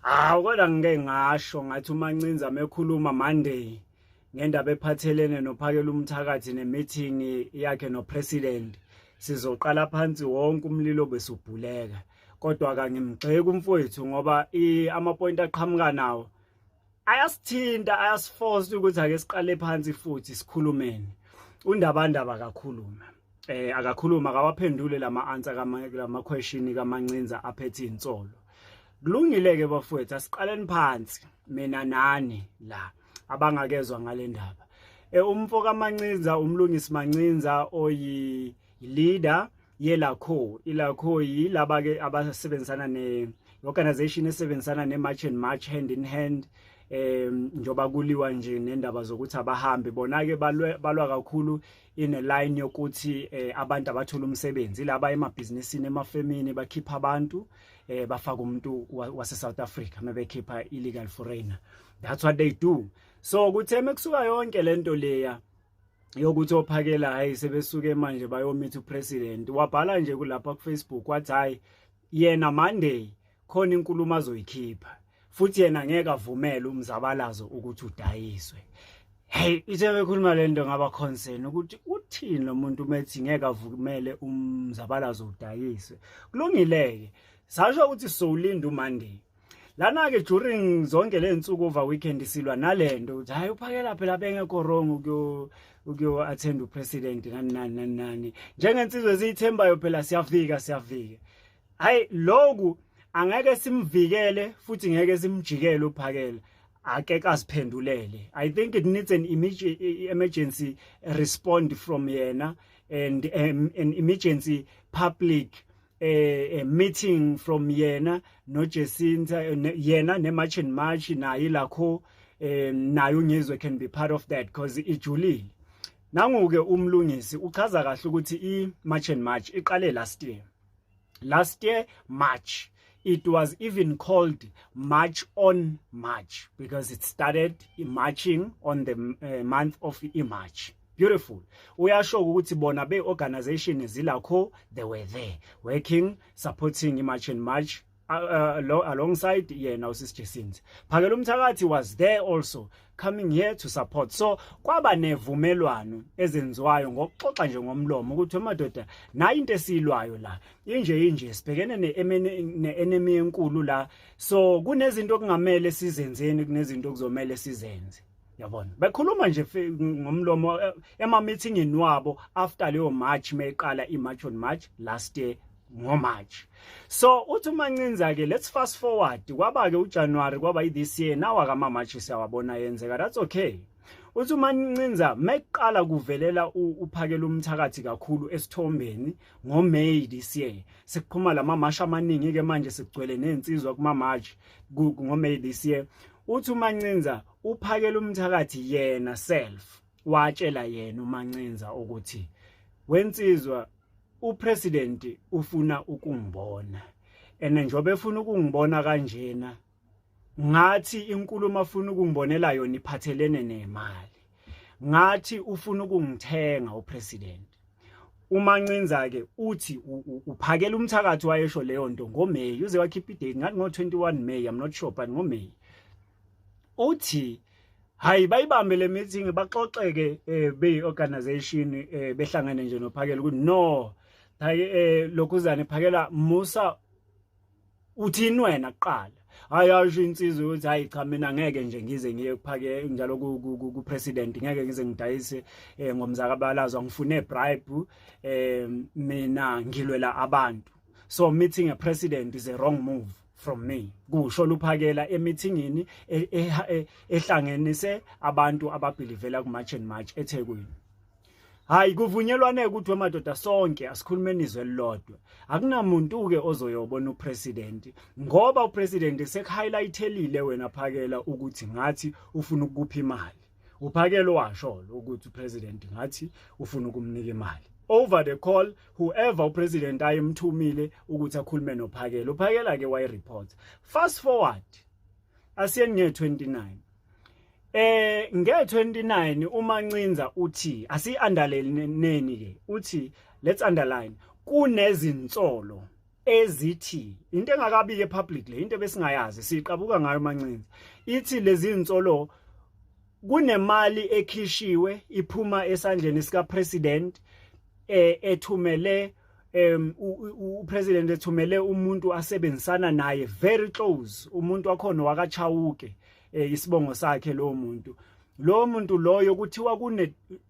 Hawu kodwa ngike ngasho ngathi uMancinza mekhuluma Monday ngendaba ephathelene nophakela umthakathi nemeeting yakhe nopresident sizoqala phansi wonke umlilo besubhuleka kodwa kangimgxeki umfowethu ngoba amapoint aqhamuka nawo ayasithinta ayasiforce ukuthi ake siqale phansi futhi sikhulumeni undabandaba akakhulume eh akakhuluma akawaphendule lama answer kama lama question kamancinza aphethe insolo kulungile ke bafowethu asiqaleni phansi mina nani la abangakezwa ngalendaba eh umfo kamancinza umlungisi mancinza oyi leader yelakho ilakho yilaba ke abasebenzisana ne organization esebenzisana ne march and march hand in hand em njoba kuliwa nje nendaba zokuthi abahambi bona ke balwa kakhulu in a line yokuthi eh, abantu abathola umsebenzi laba emabhizinisini emafemini bakhipha abantu eh, bafaka umuntu wase South Africa mebekhipha illegal foreigner that's what they do so kutheme kusuka yonke lento leya yokuthi ophakela hayi sebesuke manje bayomitha upresident wabhala nje kulapha kufacebook wathi hayi yena monday khona inkulumo azoyikhipha futhi yena ngeke avumele umzabalazo ukuthi udayiswe hey ithe bekhuluma le nto ngaba concern ukuthi uthini lo muntu umethi ngeke avumele umzabalazo udayiswe kulungile-ke sasho ukuthi sowulinda umonday lana ke during zonke le nsuku over weekend silwa nalento ukuthi hayi uphakela phela bengekho wrong ukuyo ukuyo attend upresident nani nani nani nani njengensizwe eziyithembayo phela siyafika siyafika hayi lokhu angeke simvikele futhi ngeke simjikele uphakela ake kasiphendulele i think it needs an emergency respond from yena and um, an emergency public eh, eh meeting from yena no Jacinta eh, ne, yena ne March and March naye lakho eh nayo ngizwe can be part of that because ijulile nanguke umlungisi uchaza kahle ukuthi i March and March iqale last year last year March it was even called March on March because it started marching on the uh, month of March beautiful uyashoka ukuthi bona be organization zilakho they were there working supporting imarch and march uh, uh, alongside yena usis Jesins phakela umthakathi was there also coming here to support so kwaba nevumelwano ezenziwayo ngokuxoxa nje ngomlomo ukuthi amadoda nayi into esilwayo la inje inje sibhekene ne-enemy enkulu la so kunezinto okungamele sizenzeni kunezinto okuzomele sizenze yabona bekhuluma nje ngomlomo eh, ema-meetingini wabo after leyo march meyiqala i-march on march last year ngoMarch so uthi umancinza ke let's fast forward kwaba ke uJanuary kwaba i-this year nawa kama March siyawabona yenzeka that's okay uthi uma nincinza meqala kuvelela uphakela umthakathi kakhulu esithombeni ngo May this year sikuphuma lama mash amaningi ke manje sigcwele nezinsizwa kuma March ngo May this year uthi umancinza uphakela umthakathi yena self watshela yena umancinza ukuthi wensizwa upresident ufuna ukungibona ene njobe efuna ukungibona kanjena ngathi inkulumo afuna ukungibonela yona iphathelene nemali ngathi ufuna ukungithenga upresident umancinza ke uthi uphakela umthakathi wayesho leyo nto ngoMay uze wakhipha idate ngathi ngo21 May i'm not sure but ngoMay uthi hayi bayibambe le meeting baxoxeke eh, beyi-organization eh, behlangane nje nophakela ukuthi no hayi eh, lokhuzane phakela musa uthini wena kuqala hayi asho insizwa ukuthi hayi cha mina ngeke nje ngize ngiye kuphake njalo ku president ngeke ngize ngidayise eh, ngomzakabalazwa ngifune bribe eh mina ngilwela abantu so meeting a president is a wrong move from me kusho luphakela emithingini e, e, e, ehlangenise abantu ababhilivela ku March and March eThekwini hayi kuvunyelwane ukuthi wemadoda sonke asikhulumeni izwe lilodwa akunamuntu ke ozoyobona upresident ngoba upresident sekuhighlighthelile wena phakela ukuthi ngathi ufuna ukupha imali uphakelo washolo ukuthi upresident ngathi ufuna ukumnika imali over the call whoever upresident ayemthumile ukuthi akhulume nophakelo uphakela ke wayi report fast forward asiyeni nge 29 Eh nge-29 uMancinza uthi asi-underline neni ke uthi let's underline kunezinsolo ezithi into engakabiki epublic le into besingayazi siqabuka ngayo mancinza ithi lezi insolo kunemali ekhishiwe iphuma esandleni sika president eh, ethumele um upresident ethumele umuntu asebenzisana naye very close umuntu wakhona wakachawuke eh, isibongo sakhe lo muntu lo muntu loyo kuthiwa kune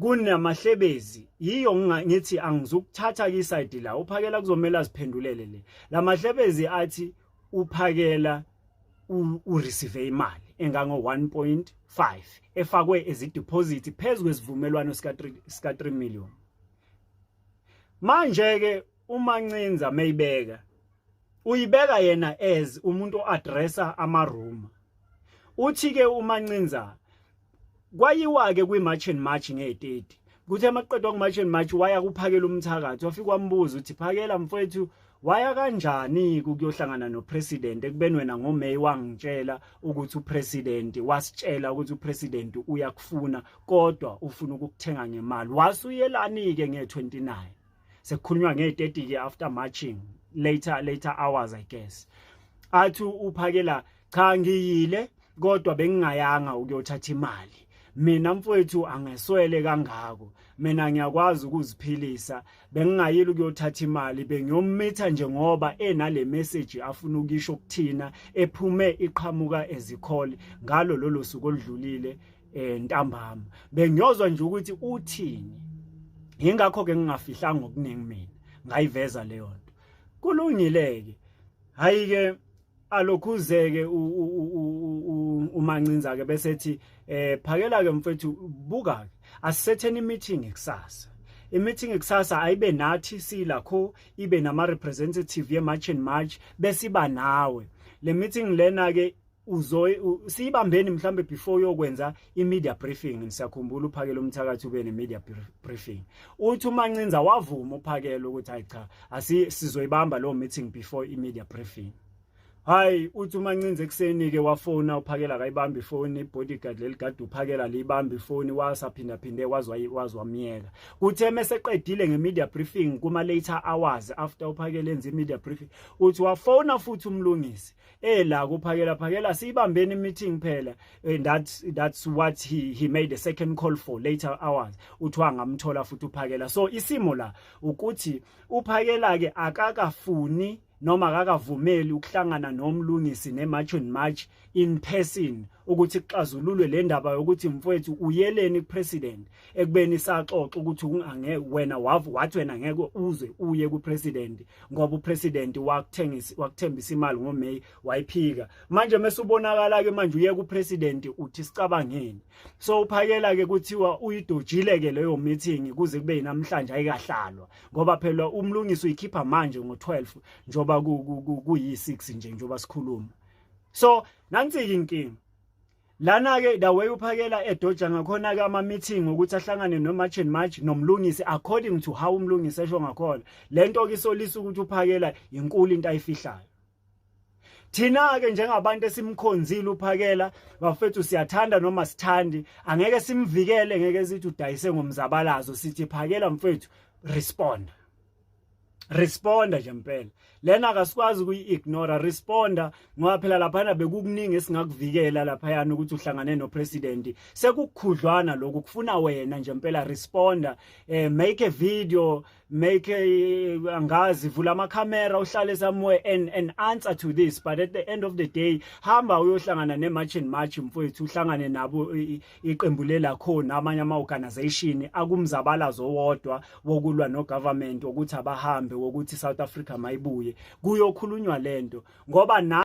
kunamahlebezi yiyo ngithi angizukuthatha ke isayidi la uphakela kuzomela aziphendulele le lamahlebezi athi uphakela ureceive imali engango 1.5 efakwe ezideposit phezulu kwesivumelwano sika 3 sika 3 million manje ke uma ncinza mayibeka uyibeka yena as umuntu oaddressa amaruma uthi ke umancinza kwayiwa ke kwi march and march nge30 kuthi amaqedwa ku march and march waya kuphakela umthakathi wafika wambuza uthi phakela mfowethu waya kanjani ukuyohlangana nopresident ekubeni wena ngoMay wangitshela ukuthi upresident wasitshela ukuthi upresident uyakufuna kodwa ufuna ukukuthenga ngemali wasuyelani ke nge29 sekukhulunywa nge-30 ke after marching later later hours i guess athi uphakela cha ngiyile kodwa bengingayanga ukuyothatha imali mina mfowethu angeswele kangako mina ngiyakwazi ukuziphilisa bengingayile ukuyothatha imali bengiyomitha nje ngoba enale message afuna ukisho kuthina ephume iqhamuka ezikhole ngalo lolo suku oludlulile eh ntambama bengiyozwa nje ukuthi uthini ingakho ke ngingafihlanga okuningi mina ngayiveza leyo nto kulungileke hayi ke alokhuzeke umancinza ke bese ethi eh phakela ke mfethu buka ke asisetheni meeting kusasa imeeting kusasa ayibe nathi silakho ibe nama representative ye march and march besiba nawe le meeting lena ke uzoy siyibambeni mhlambe before uyokwenza imedia briefing ngisakhumbula uphakela umthakathi ube nemedia briefing uthi umancinza wavuma uphakela ukuthi hayi cha asi sizoyibamba lo meeting before imedia briefing hayi uthi umancinza ekuseni ke wafona uphakela akayibambi ifoni bodyguard leligade uphakela liyibambi ifoni wasaphinda phinde wazwa wazwa myeka kuthe meseqedile ngemedia briefing kuma later hours after uphakela enze imedia briefing uthi wafona futhi umlungisi eh la kuphakela phakela siyibambeni meeting phela and eh, that that's what he he made a second call for later hours uthiwa ngamthola futhi uphakela so isimo la ukuthi uphakela ke akakafuni noma akakavumeli ukuhlangana nomlungisi ne march and march in person ukuthi kuxazululwe le ndaba yokuthi mfowethu uyeleni kupresident ekubeni saxoxa ukuthi ungange wena wavu wathi wena ngeke uze uye kupresident ngoba upresident wakuthengisa wakuthembisa imali ngoMay wayiphika manje mesubonakala ke manje uye kupresident uthi sicabangeni so uphakela ke kuthiwa uyidojile ke leyo meeting kuze kube namhlanje ayikahlalwa ngoba phela umlungisi uyikhipha manje ngo12 njoba ku yi6 nje njoba sikhuluma so nansi inkinga lana ke the way uphakela edoja ngakhona ke ama meeting ukuthi ahlangane no march and march nomlungisi according to how umlungisi esho ngakhona lento ke isolisa ukuthi uphakela inkulu into ayifihlayo thina ke njengabantu esimkhonzile uphakela bafethu siyathanda noma sithandi angeke simvikele ngeke sithi udayise ngomzabalazo sithi phakela mfethu respond responda nje mpela lena akasikwazi ukuyi-ignora responda ngoba phela laphana bekukuningi esingakuvikela laphayana ukuthi uhlangane nopresidenti sekukhudlwana lokhu kufuna wena nje mpela responda eh, make a video make a, eh, angazi vula amakhamera uhlale somewhere and, and answer to this but at the end of the day hamba uyohlangana ne-march and march mfowethu uhlangane nabo iqembu lelakho namanye ama-organization akumzabalazo owodwa wokulwa nogovernment wokuthi abahambe wokuthi i-south africa mayibuye kuyokhulunywa le nto ngoba na